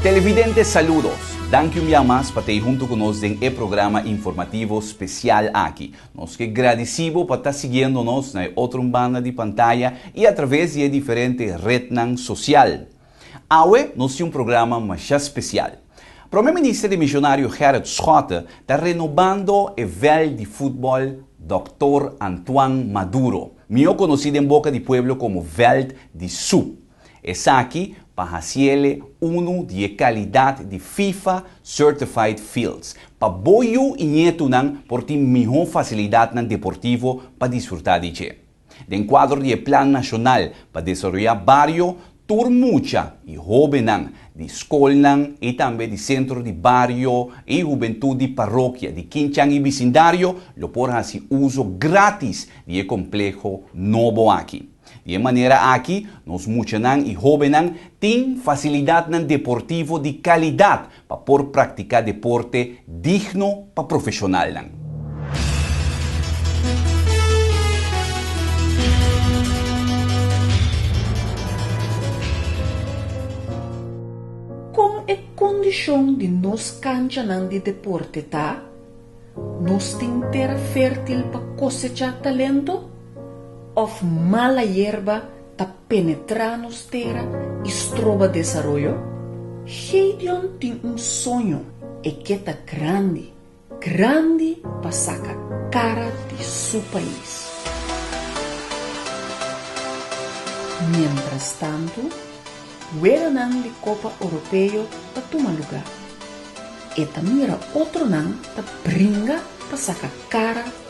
Televidente saludos! Danki un bia mas pa ta ei huntu ku nos den e programa informativo spesial aki. Nos ke gradisí bo pa ta siguiendo nos na e otro banda di pantaya i a traves di e diferente retnan sosial. Awe nos tin un programa masha special. Prome Minister di Misionario Gerrit Schotte ta renobando e veld di futbol Doctor Antoine Maduro, mihó conoci den boca di pueblo como Veld di Su. Esaki pa haciele uno di e calidad di Fifa Certified Fields, pa bo yu y nietunan por tin mihó facilidadnan deportivo pa disfruta di dje. Den kuadro di e Plan Nashonal pa Desaroyá Bario, tur mucha i hóbennan di skolnan i tambe di Sentro di Bario i Hubentut di Parokia di Kinchan i bisindario lo por hasi uso grátis di e kompleho nobo aki. Di e manera aki nos muchanan i hóbennan tin fasilidatnan deportivo di kalidat Pa por practica deporte digno pa profesionalnan. Con e condicion di nos canchanan di deporte ta, nos tin tera fertil pa cosecha talento of mala yerba ta penetrá nos tera i stroba desaroyo? Gédeon tin un soño, e ke ta grandi, grandi pa saka kara di su pais. Mientrastantu, weganan di Kopa Oropeo ta tuma lugá. E ta mira otronan ta bringa pa saka kara.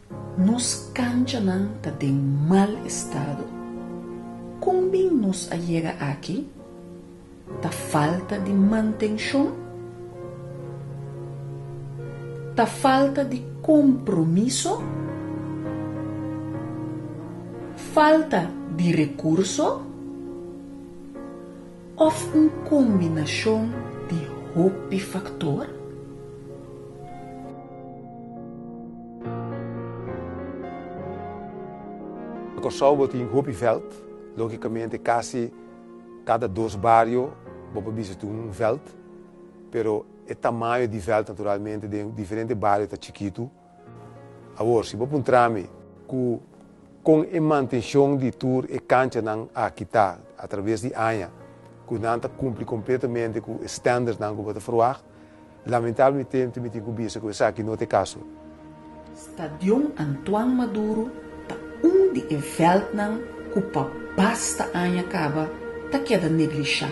Nos canchanan ta den mal estado. Con bin nos a yega aki? Ta falta di mantencion? Ta falta di compromiso? Falta di recurso? Of un combinacion di hopi factor? Kòrsou bo tin hopi vèlt, lógikamente kasi kada dos bario bo por bisa tin un vèlt, pero e tamaño di vèlt naturalmente den diferente bario ta chikitu. Awor, si bo puntra mi ku kon e mantenshon di tur e kanchanan a kita atraves di aña, ku nan ta kumpli kompletamente ku e standaardnan ku bo ta verwagt? Lamentablemente mi tin cu bisa cu esaki no ta e caso. Stadion Antoine Maduro ta un di e veldnan cu pa basta aña caba ta keda neglishá.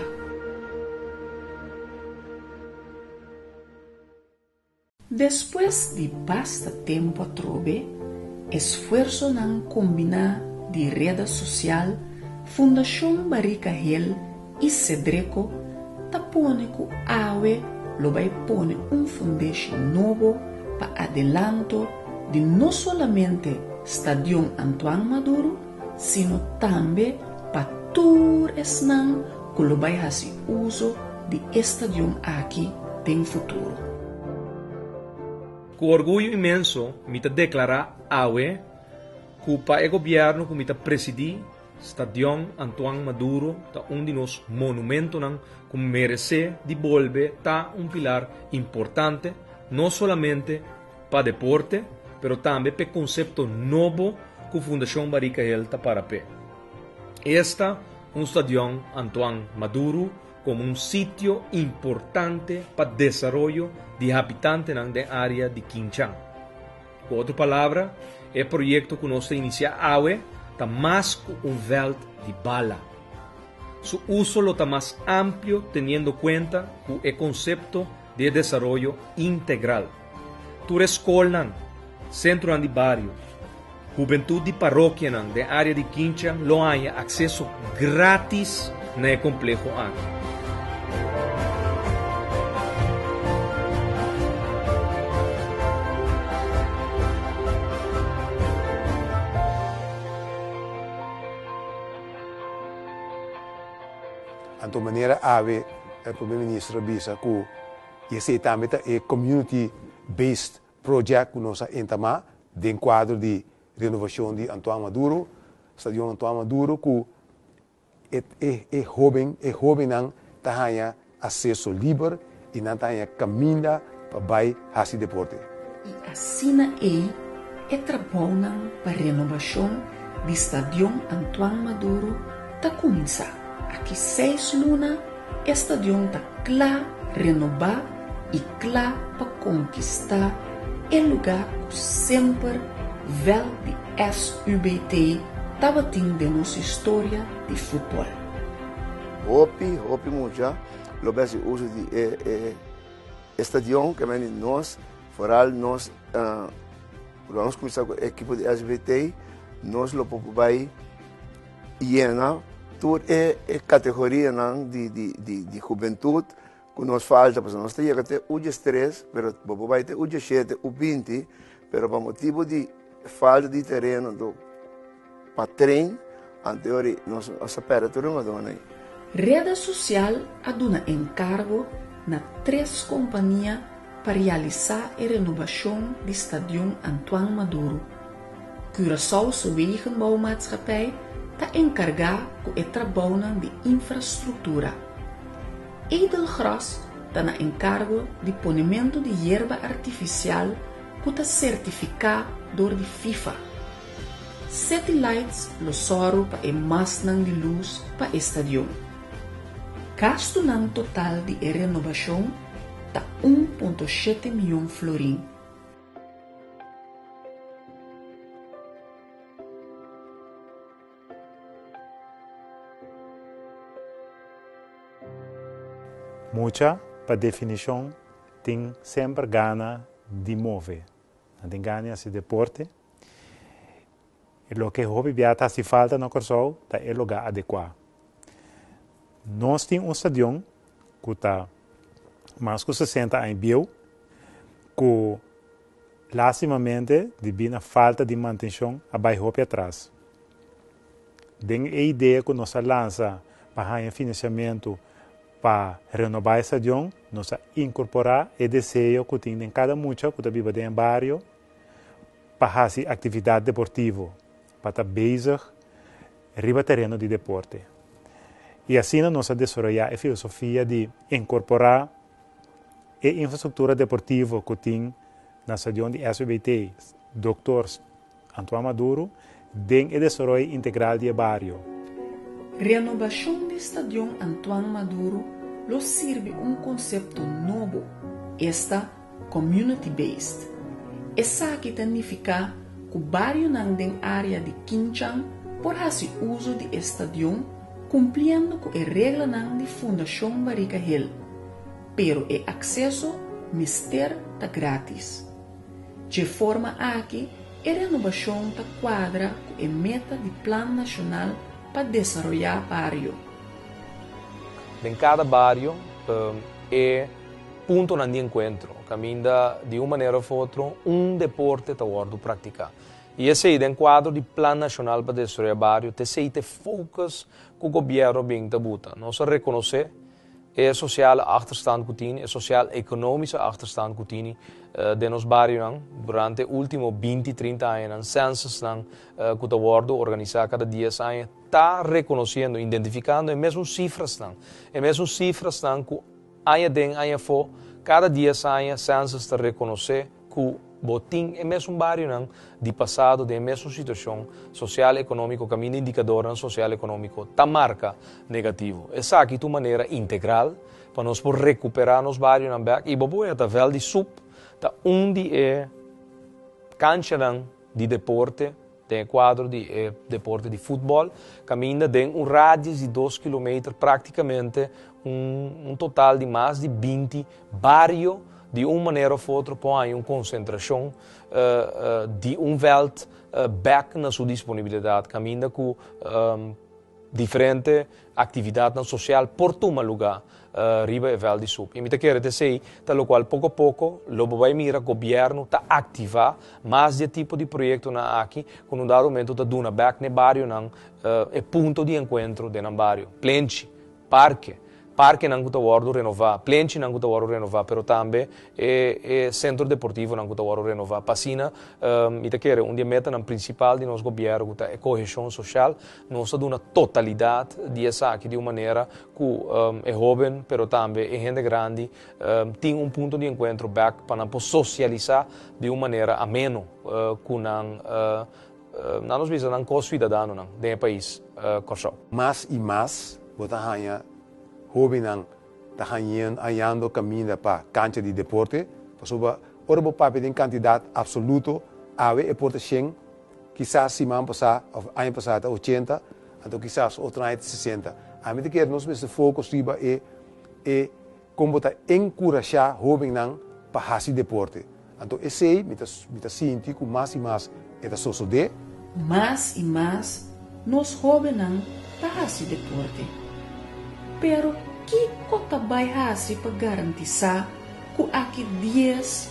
Despues di basta tempu atrobe, esfuersonan combiná di reda social Fundacion Barrica Hill I sedreko ta pone ku awe lo bai pone un fundeshon nobo pa adelanto di no solamente Stadion Antoine Maduro sino tambe pa tur esnan ku lo bai hasi uso di e stadion aki den futuro. Ku orguyo inmenso mi ta deklará awe ku pa e gobièrnu ku mi ta presidí, Stadion Antoine Maduro ta un di nos monumentonan cu merece di bolbe ta un pilar importante no solamente pa deporte pero tambe p'e concepto nobo cu Fundacion Barika Hill ta para p'e. Esta un Stadion Antoine Maduro como un sitio importante pa desaroyo di habitantenan den area di Quinchán. Ku otro palabra, e proyekto ku nos ta inisiá awe ta mas ku un vèlt di bala. Su uso lo ta mas amplio teniendo kuenta ku e konsepto di e desaroyo integral. Tur e skolnan, sentronan di bario, hubentut di parokianan den área di Kincha lo haña akseso gratis. na e kompleho aki. Anto manera awe e Prome Ministro a bisa ku i esei tambe ta e Community Based Project ku nos a entamá den kuadro di renovashon di Antoine Maduro, Stadion Antoine Maduro, ku E hóben, e hóbennan ta haña aseso liber i nan ta haña kaminda pa bai hasi deporte. I asina ei e trabounan pa renobashon di Stadion Antoine Maduro ta kuminsá. Aki seis luna E stadion ta kla renobá i kla pa konkistá e lugá ku semper vèlt di SUBT tabatin den nos historia di futbòl. Hopi, hopi mucha lo bes di uso di e stadion, ke men di nos, foral nos ku lo a skucha ku e ekipo di SUBT, nos lo por bai. Yena tur e kategorianan di hubentut ku nos falta, pasobra nos ta yega te e udje stres, pero bo por bai te e udje shete, u binti, pero pa motibu di falta di tereno anto pa tren, anto e ora nos a pèrdè tur e madona ei. Rede sosial a duna enkargo na tres kompania pa realisá e renobashon di Stadion Antoine Maduro. Curaçao su Wegenbouwmaatschappij ta enkargá ku e trabounan di infrastruktura. Edelgras ta na enkargo di ponementu di yerba artifisial ku ta sertifiká dor di Fifa. City Lights lo sòru pa e mastnan di lus pa e stadion. Gastunan total di e renobashon ta un punto shete mion florin. Mucha, pa definishon, tin semper gana di move. Nan tin gana di hasi deporte. E loke hopi bia ta hasi falta na Kòrsou ta e lugá adekuá. Nos tin un stadion ku ta mas ku sesenta aña bieu ku lastimamente di bina falta di mantenshon a bai hopi atras. Den e idea ku nos a lansa pa haña finansiamentu pa renobá e stadion, nos a inkorporá e deseo ku tin den kada mucha ku ta biba den e bario pa hasi aktividat deportivo, pa ta bezig riba tereno di deporte. I asina nos a desaroyá e filosofia di inkorporá e infrastruktura deportivo ku tin na stadion di SBBT, Doctor Antoine Maduro, Den e desaroy integral di e bario. Renobashon di Stadion Antoine Maduro lo sirbi un konsepto nobo, esta Community Based. Esaki ta nifiká ku barionan den área di Kinchan por hasi uso di e stadion kumpliendo ku e reglanan di Fundashon Barika Hill, pero e akseso mester ta grátis. Dje forma aki, e renobashon ta kuadra ku e meta di Plan Nashonal pa Desaroyá Bario. Den kada bario, e puntonan di enkuentro kaminda di un manera òf otro un deporte ta wòrdu praktiká. I esei den kuadro di Plan Nashonal pa Desaroyá Bario, t'esei t'e fokus ku gobièrnu a bin ta buta. Nos a rekonosé E sosiale achterstand ku tin, e sosial-ekonomische achterstand ku tin den nos barionan durante e último binti, trinta añanan, censosnan ku ta wòrdu organisá kada dies aña ta rekonosiendo, identifikando e mesun sifrasnan, e mesun sifrasnan ku aña den, aña afó, kada dies aña census ta rekonosé. ku bo tin e mesun barionan di pasado den e mesun situashon sosial ekonómiko kaminda indikadornan sosial ekonómiko ta marka negativo. Esaki ta un manera integral pa nos por rekuperá nos barionan bèk i bo por wea ta Vèl di Sup ta un di e kanchanan di deporte, Den e kuadro di e deporte di futbòl, kaminda den un radius di dos kilometer práktikamente un total di mas di binti bario di un manera òf otro por haña un konsentrashon di un vèlt bèk na su disponibilidat kaminda ku Diferente actividadnan social por tuma luga riba e vel di Sup y mi ta kere ta esey ta locual poco a poco lo bo bay mira gobierno ta activa mas di e tipo di proyectonan aki cu nun dado momento ta duna bek n'e barionan e punto di encuentro den nan bario plenchi parke, parkenan ku ta wòrdu renová, plenchinan ku ta wòrdu renová, pero tambe e e sentro deportivonan ku ta wòrdu renová. Pa asina mi ta kere un di e metanan prinsipal di nos gobièrnu ku ta e koheshon soshal, nos ta duna totalidat di esaki di un manera ku e hóben pero tambe e hende grandi tin un punto di enkuentro bèk pa nan por sosialisá di un manera ameno ku nan Na nos bisa nan ko suidadanonan den e pais Kòrsou. Mas i mas bo ta haña hóbennan ta hañando kaminda pa kancha di deporte, pasobra ora bo papia den kantidat apsoluto, awe e por ta shen, kisas siman pasá òf aña pasá ta ochenta, anto kisas otro aña ta sesenta. Ami ta kere nos mester focus riba e. Kon bo ta enkurashá hóbennan pa hasi deporte? Anto esei mi ta mi ta sinti ku mas i mas e ta sosodé. Mas i mas nos hóbennan ta hasi deporte. Pero kiko ta bai hasi pa garantisá ku aki dies,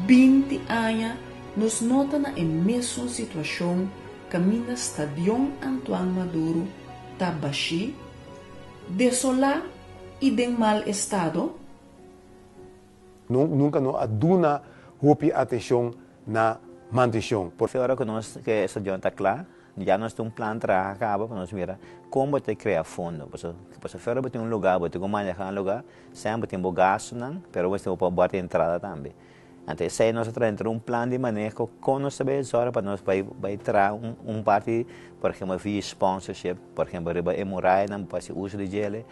binti aña nos no ta na e mesun situashon kaminda Stadion Antoine Maduro ta bashí, desolá i den mal estado? Nos nunca no a duna hopi atencion na mantencion. Por. Ora cu nos cu e estadion ta cla, ya nos tin un plan traha caba pa nos mira con bo ta crea fondo. Pasobra pasobra afuera bo tin un lugar, bo tin cu maneha un lugar, semper bo tin bo gastonan, pero bo mester bo por bo puerta di entrada tambe. Anto esei nos a traha dentro un plan di maneho kon nos ta bai obsorba pa nos bai bai traha un un parti por ehempel vi sponsorship por ehempel riba e murayanan bo hasi uso di djele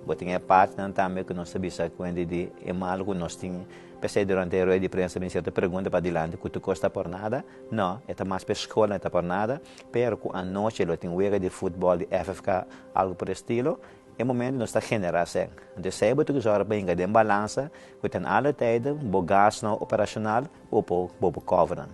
bo tin e partinan tambe ku nos ta bisa kuenti di e malo ku nos tin pa esei durante e rueda di prensa ta bin cierto pregunta pa dilanti ku tu kosta por nada no e ta mas pa e skola e ta por nada pero ku anochi lo tin wega di futbòl di FFK algu por e estilo. E momento nos ta genera sèn. Anto esei bo toki zòrga pa hinga den balansa ku ten alle tijden bo gas nou operacional u po bo por kòvenan.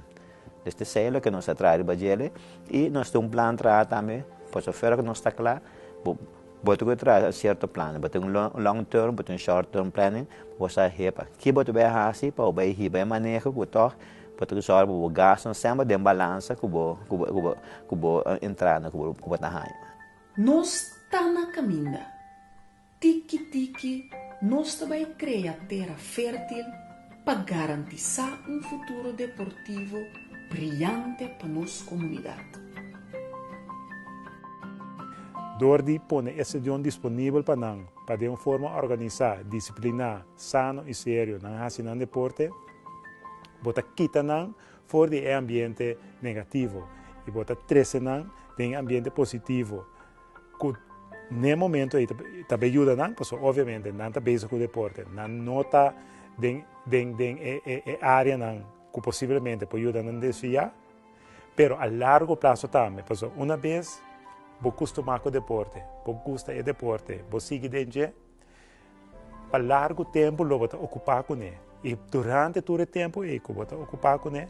Des te sei loke nos ta traha riba djele i nos tin un plan traha tambe paso fera ku nos ta kla bo bo toki traha un sierto plan. Bo tin un long term bo tin un short term planning pa bo sa hepa ki bo ta bai hasi pa bo bai hiba e maneho ku tòg bo toki zòrga pa bo gasnan semper den balansa ku bo ku bo ku bo entrada ku bo ta haña. Nos ta na kaminda. Tiki tiki nos ta bai krea tera fertil pa garantisa un futuro deportivo briante pa nos komunidat. Dor di pone e stadion disponibel pa nan pa den un forma organisa, disipliná, sano i serio nan hasi nan deporte, bo ta kita nan For di e ambiente negativo y bo ta trece nan den e ambiente positivo cu n'e momento ey ta bay yuda nan pasobra obviamente nan ta bezig cu deporte nan no ta den den den e area nan cu posiblemente por yuda nan desvia pero a largo plazo tambe pasobra una bes bo custuma cu deporte bo gusta e deporte bo sigui den dje Pa largu tempu lo bo ta okupá kuné i durante tur e tempu ei ku bo ta okupá kuné,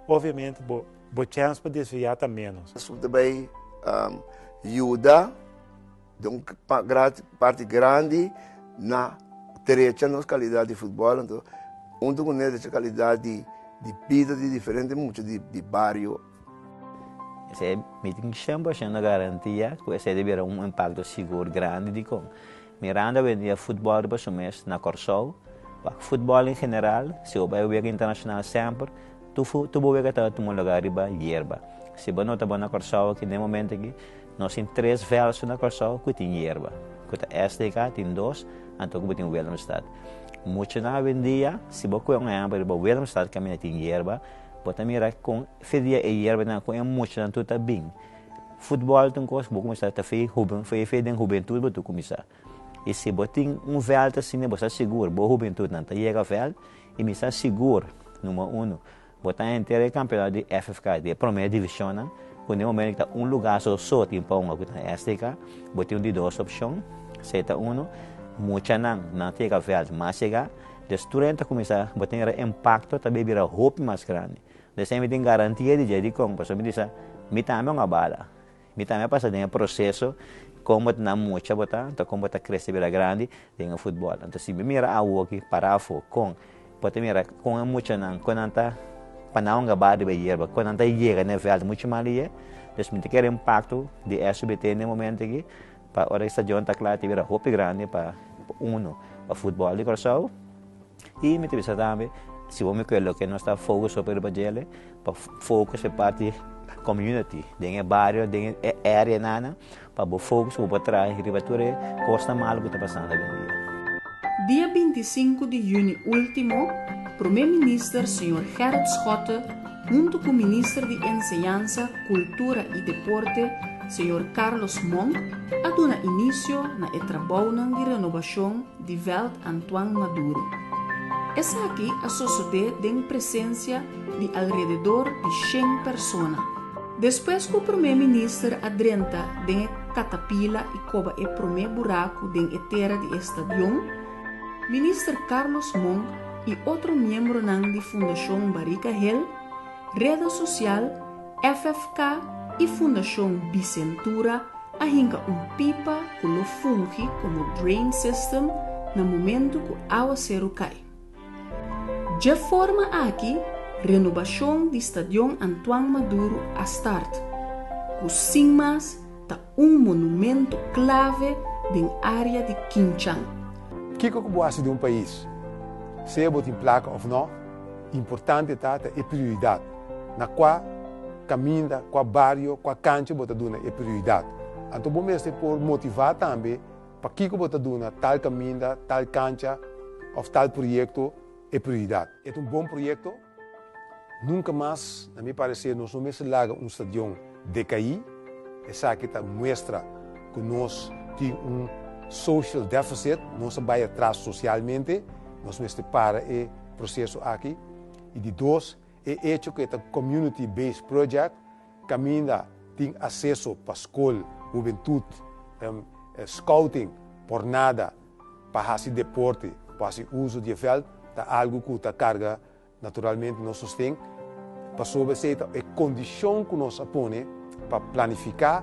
obviamente bo bo chèns pa desviá ta ménos. Esun ta bai yuda den un parti grandi na trecha nos kalidat di futbòl anto huntu kuné dje kalidat di di bida di diferente mucha di bario. Esei meeting shemp a shenda garantia ku esei debiera un impakto sigur grandi dikon Miranda wendia futbòl riba su mes na Kòrsou. Pa futbòl en general, si bo bai wega internashonal semper, tur bo wega tabata tuma lugá riba yerba. Si bo no ta bon na Kòrsou aki den momentu aki, nos tin tres vèlsu na Kòrsou ku tin yerba, ku ta SDK tin dos, anto ku bo tin Willemstad. Muchunan wendia, si bo kue un ehèmpel riba Willemstad kaminda tin yerba, Bo ta mira kon se dia e yerbanan kon e muchanan tur ta bin. Futbòl ta un kos ku bo kuminsá ta fe hoben, fe fe den hubentut bo tur kuminsá. I si bo tin un vèlt asina bo sa sigur bo hubentutnan ta yega vèlt, i mi sa sigur, numero uno, bo ta henter e kampionato di FFK, di e promé divishonnan, ku den e momentu ta un lugá sosó tin pa hoga ku ta na STK, bo tin di dos opshon, se ta uno, muchanan nan ta yega vèlt mas yega, Destruenan ta kuminsá boten ra impakto ta bira hopi mas grandi. Di esei mi tin garantia di djai dikon? Pasobra mi di sa, mi tambe un a bala, mi tambe a pasa den e proseso kon bo ta na mucha bo tanta, kon bo ta krese bira grandi den e futbòl. Anto si bo mira awoki para afo kon bo ta mira kon e muchanan kon nan ta pana un a ba riba e yerba, kon nan ta yega den e vèlt muchu mas di yé. Pues mi ta kere impakto di eso mi ta tene den e momentu aki. Pa ora e stadion ta kla te bira hopi grandi pa uno pa futbol di Kòrsou i mi ta bisa tambe si bo mi kue loke nos ta fokus hopi riba djele pa fokus e parti komuniti den e bario den e area nana pa bo fokus ku bo por traha riba tur e kosnan malu ku ta pasando ovindia. Dia binti i sinku di yüni último, Promé Minister señor Gerrit Schotte, Huntu ku Minister di Enseñansa, Kultura i Deporte, señor Carlos Monk, a duna inisio na e trabounan di renobashon di Veld Antoine Maduro. Esaki a sosodé den presensia di alrededor di shen persona. Despues ku Promé Minister a drenta den e katapila i koba e promé buraku den e tera di e stadion, Minister Carlos Monk i otro miembronan di Fundashon Barika Hel, Reda Sosial, FFK i Fundashon Bicentura a hinka un pipa ku lo fungi komo drain system na momentu ku awaseru kai. Dje forma aki renobashon di Stadion Antoine Maduro a start, ku sin mas ta Un monumento clave den area di Kinchang. Kiko ku bo hasi den un pais, sea bo tin plaka òf nò? Importante ta ta e prioridat. Na kua kaminda, kua bario, kua kancha bo ta duna e prioridat. Anto bo mester por motivá tambe pakiko bo ta duna tal kaminda, tal kancha òf tal proyekto e prioridat. E ta un bon proyekto? Nunca mas, na mi parecer, nos no mester laga un stadion decaí. Esaki ta muestra cu nos tin un social deficit, nos a bay atras socialmente. Nos mester para e proceso aki. Y di dos, e hecho cu e ta community based project, caminda tin acceso pa scol, hubentud, scouting por nada. Pa hasi deporte pa hasi uso di e vèlt ta algu ku ta karga naturalmente nos sosten. Pasobra esei ta e kondishon ku nos a pone pa planifiká,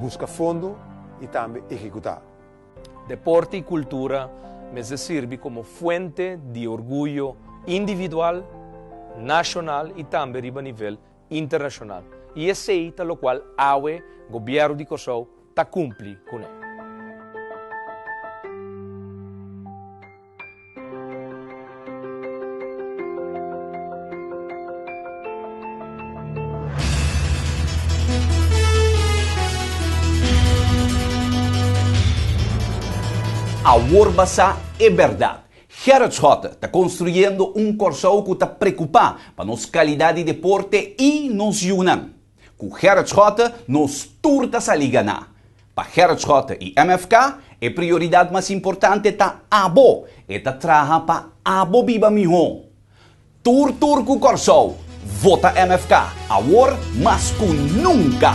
buska fondo i tambe ehekutá. Deporte i kultura mester sirbi komo fuente di orguyo individual, nashonal i tambe riba nivel internacional y esey ta locual awe Gobierno di Cosao ta cumpli cu nan. Awor basa e berdad. Gerard Schotte ta konstruyendo un Kòrsou ku ta prekupá pa nos kalidat di deporte i nos yunan. Ku Gerard Schotte nos tur ta sali ganá. Pa Gerard Schotte i MFK, e prioridat mas importante ta abo. E ta traha pa abo biba mihó. Tur tur cu Corsou, vota MFK, awor mas cu nunca!